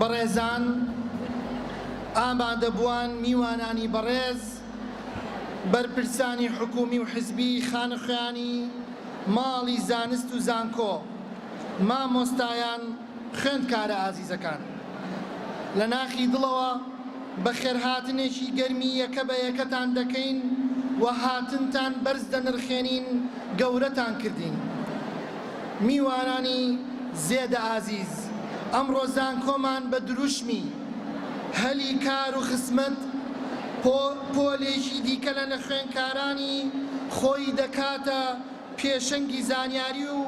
بەڕێزان ئامادەبووان میوانانی بەڕێز بەرپرسانی حکوومی و حزبی، خانەخوێانی ماڵی زانست و زانکۆ، مامۆستایان، خوێندکارە ئازیزەکان. لە ناخی دڵەوە بەخێرهاتنێکی گەرمی یەکە بە یەکەتان دەکەین و هاتنتان بەرز دەنرخێنین، گەورەتان کردین. میوانانی زێدە ئازیز، ئەمڕۆ زانکۆمان بە دروشمی، هەلی کار و خزمەت بۆ پۆلێکی دیکە لە نەخوێنکارانی خۆی دەکاتە پێشەنگی زانیاری و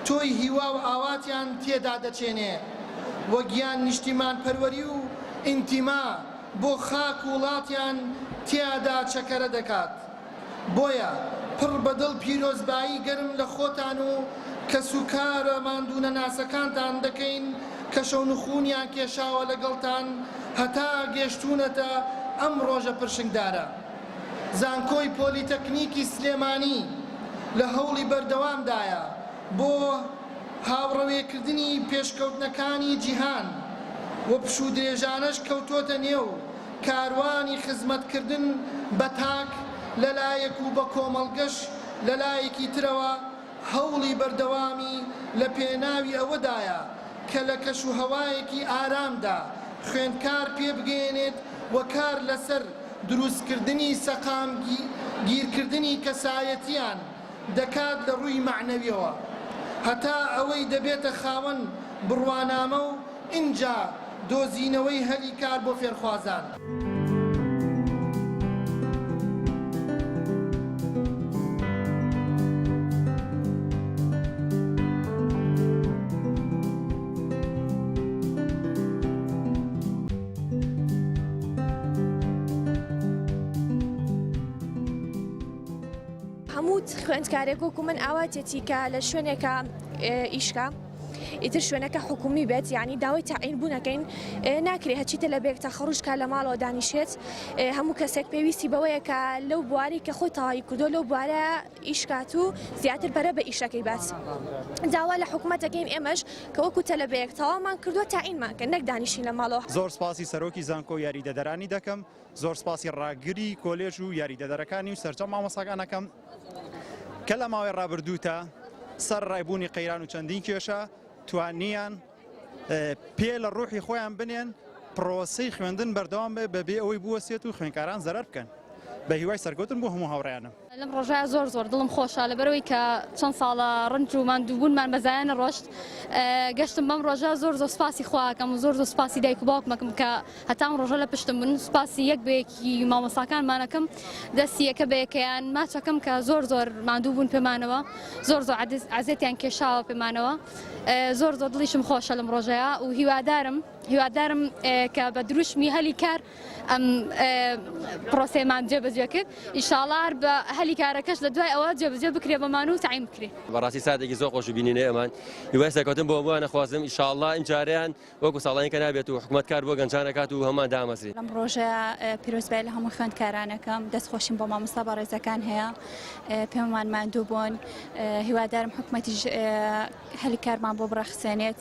تۆی هیوا و ئاواتیان تێدا دەچێنێ و گیان نیشتیمانپەروەری و ئینتیما بۆ خاک و وڵاتیان تیادا چەکەرە دەکات. بۆیە پڕ بە دڵ پیرۆزبایی گەرم لە خۆتان و کەسوکارە ماندوونەناسەکانتان دەکەین کە شەونخوونیان کێشاوە لەگەڵتان هەتا گەشتوونەتە ئەم ڕۆژە پرشنگدارە. زانکۆی پۆلیتەکنیکی سلێمانی لە هەوڵی بەردەوامدایە بۆ هاوڕەوێکردنی پێشکەوتنەکانی جیهان و پشوودرێژانەش کەوتۆتە نێو کاروانی خزمەتکردن بە تاک لە لایەک و بە کۆمەڵگەش لە لایەکی ترەوە هەوڵی بەردەوامی لە پێناوی ئەوەدایە کە لە کەشوهەوایەکی ئارامدا خوێندکار پێبگەیەنێت و کار لەسەر دروستکردنی سەقامگیرکردنی کەسایەتییان دەکات لە ڕووی مەعنەویەوە هەتا ئەوەی دەبێتە خاوەن بڕوانامە و ئینجا دۆزینەوەی هەلی کار بۆ فێرخوازان. هەموو خوێندکارێک وەکو من ئاواتێتی کە لە شوێنێکا ئیشکا. ئیتر شوێنەکە حکومی بێت یعنی داوای تاعین بوونەکەین ناکرێت هەچی تەلەبێک تا خەڕوشکە لە ماڵەوە دانیشێت هەموو کەسێک پێویستی بەوەیە کە لەو بواری کە خۆی تەواوی کردو لەو بوارە ئیشکات و زیاتر پەرە بە ئیشەکەی بات داوا لە حکوومەتەکەین ئێمەش کە وەکو تەلەبەیەک تەوامان کردووە تاعینمان کە نەک دانیشین لە ماڵەوە زۆر سپاسی سەرۆکی زانکۆ یاریدەدەرانی دەکەم زۆر سپاسی ڕاگری کۆلێژ و یاریدەدەرەکانی و سەرجەم مامۆستاکان ئەکەم کە لە ماوەی ڕابردووتە سەر ڕای بوونی قەیران و چەندین کێشە توانیان پێ لە ڕوحی خۆیان بنێن پرۆسی خوێندن بەردەوام بێ بەبێ ئەوەی بوەسێت و خوێنکاران زەرەر بکەن بە هیوای سەرکەوتن بۆ هەموو هاوڕیانم. لەم ڕۆژە زۆر زۆر دڵم خۆشە لەبەرەوەی کە چەند ساڵە ڕنج و ماندووبوونمان بەزایە نەڕۆشت گەشتم بەم ڕۆژە زۆر زۆر سپاسی خواکەم و زۆر زۆر سپاسی دایک و باوکمەکەم کە هەتام ڕۆژە لە پشتم بن سپاسی یەک بەیەکی مامۆساکانمانەکەم دەستیەکە بەیەکەیان ماچەکەم کە زۆر زۆر ماندوو بوون پێمانەوە زۆر زۆر عزیێتیان کێشاوە پێمانەوە زۆر زۆر دڵیشم خۆشە لەم ڕۆژەیە و هیوادارم هیوادارم کە بە دروشمی هەلی کار ئەم پرۆسەیەمان جێبەجێ کرد ئیشاڵا هەر بە هەلی کارەکەش لە دوای ئەوە جێبەجێ بکرێ بەمان و تایم بکرێ بەڕاستی ساتێکی زۆر خۆش بینینێ ئەمان هیوای سەرکەوتن بۆ بووانە خوازم ئیشاڵا ئینجاریان وەکو ساڵانی کە نابێت و حکومەت کار بۆ گەنجانەکات و هەمان دامەزری لەم ڕۆژە پیرۆزبای لە هەموو خوێندکارانەکەم دەست خۆشیم بۆ مامۆستا بەڕێزەکان هەیە پێمان ماندوو بوون هیوادارم حکومەتیش هەلی کارمان بۆ بڕەخسێنێت